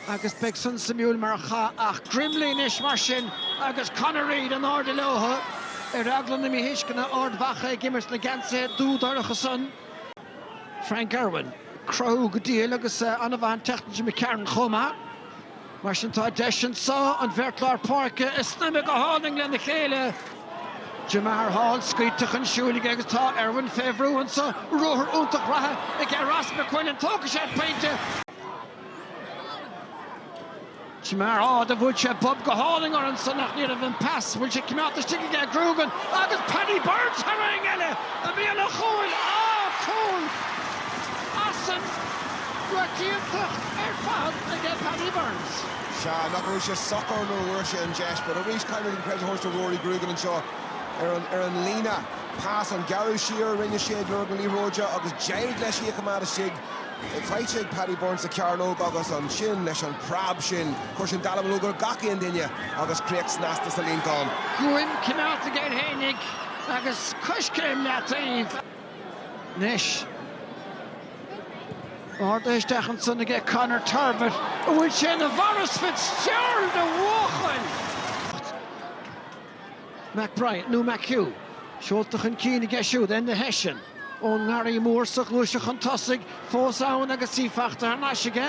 Agus beidh san suimiúil mar chath. Ach Grimley anois mar sin agus Conor Reid in airde leotha, ar eagla na míthuisceana, Ard Mhacha ag imirt sna geansaithe dúdhorcha san. Frank Irwin. Cruthú go diail agus an-mhaith an teicníc aige McCarron chomh maith. Mar sin tá deis anso an bheirt lár páirce a shnaidhmeadh go hálainn lena chéile. Jemar Hall, scaoilte chun siúil aige agus tá Irwin fé bhrú annso. Ruathar iontach reatha aige Ross McQuillan, tógfaidh sé an pointe! Jemar Hall a bhuail sé bob go hálainn orthu annso ach ní raibh an pas, bhfuil sé coimeádta istigh aige Grugan agus Paddy Burns thar éinne eile a bhí ina chúl! Ah! Cúl! As san, raic iontach ar fad aige Paddy Burns. Sea, nach raibh sé socair nuair a bhfuair sé an deis. But arís, caithfidh mé an credit a thabhairt do Ruairí Grugan anseo ar an líne. Pas an gearradh siar a rinne sé ag lorg na liathróide agus d'éirigh leis í a choimeád istigh. Faighte ag Paddy Burns sa chearnóg agus ansin leis an preab sin, chuir sin dallamullóg ar gach aon duine agus críoch snasta sa líontán. Guaim coimeádta aige air fhéinig agus coiscéim leataoibh. Anois, ardaithe isteach ansan aige Conor Turbitt an bhfuil sé ina Mhaurice Fitzgerald de bhuachaill! McBride nó McHugh seolta chun cinn aige siúd, Enda Hession ón nGarraí Mór sa ghluaiseacht chun tosaigh, Fós ann agus í fachta thar n-ais aige.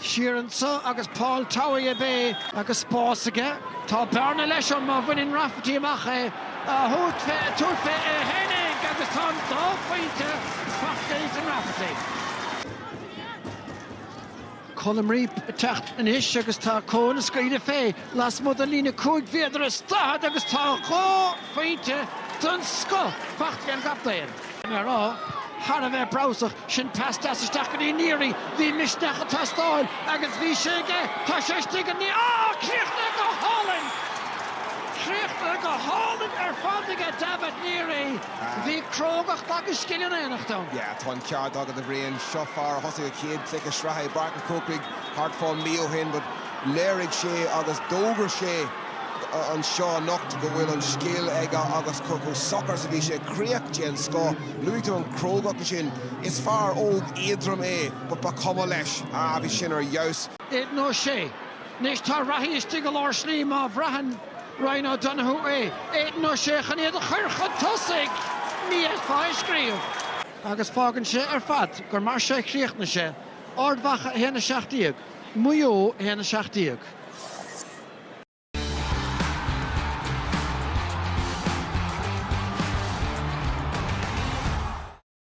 Siar annso agus Paul Towey ab é. Agus spás aige. Tá bearna leis ann má bhaineann Rafferty amach é. Ag tabhairt fé é fhéinig agus tá an dá phointe fachta ag Ethan Rafferty. Colm Reape ag teacht anois agus tá chun scaoileadh fé lasmuigh den líne cúig mhéadar is daichead agus tá dhá phointe den scoth fachta ag an gcaptaen. Bhí mé a rá thar a bheith breabhsach, sin pas deas isteach go dtí Neary, bhí misneach ag teastáil agus bhí sé aige, tá sé istigh ag Neary, á! Críochnaithe go hálainn! Críochnaithe go hálainn ar fad aige Davitt Neary! Bhí crógacht agus scil in éineacht ann. Yeah, tá an ceart agat, a Bhriain. Seo fear a thosaigh a chéad chluiche sraithe i bPáirc an Chrócaigh thart fá mhí ó shin but léirigh sé agus d'fhógair sé anseo anocht go bhfuil an scil aige agus chomh socair is a bhí sé. Críoch den scoth. Luaigh tú an chrógacht ansin. Is fear óg éadrom é but ba chuma leis. Ah, bhí sin ar fheabhas. Aidan O'Shea, Anois tá reathaí istigh i lár slí má bhraitheann. Ryan O'Donoghue é. Aidan O'Shea chun iad a chur chun tosaigh. Ní fhéadfá é a scríobh. agus fágann sé ar fad gur mar seo a chríochnaigh sé, Ard Mhacha 1, 17, Maigh Eo 1, 17.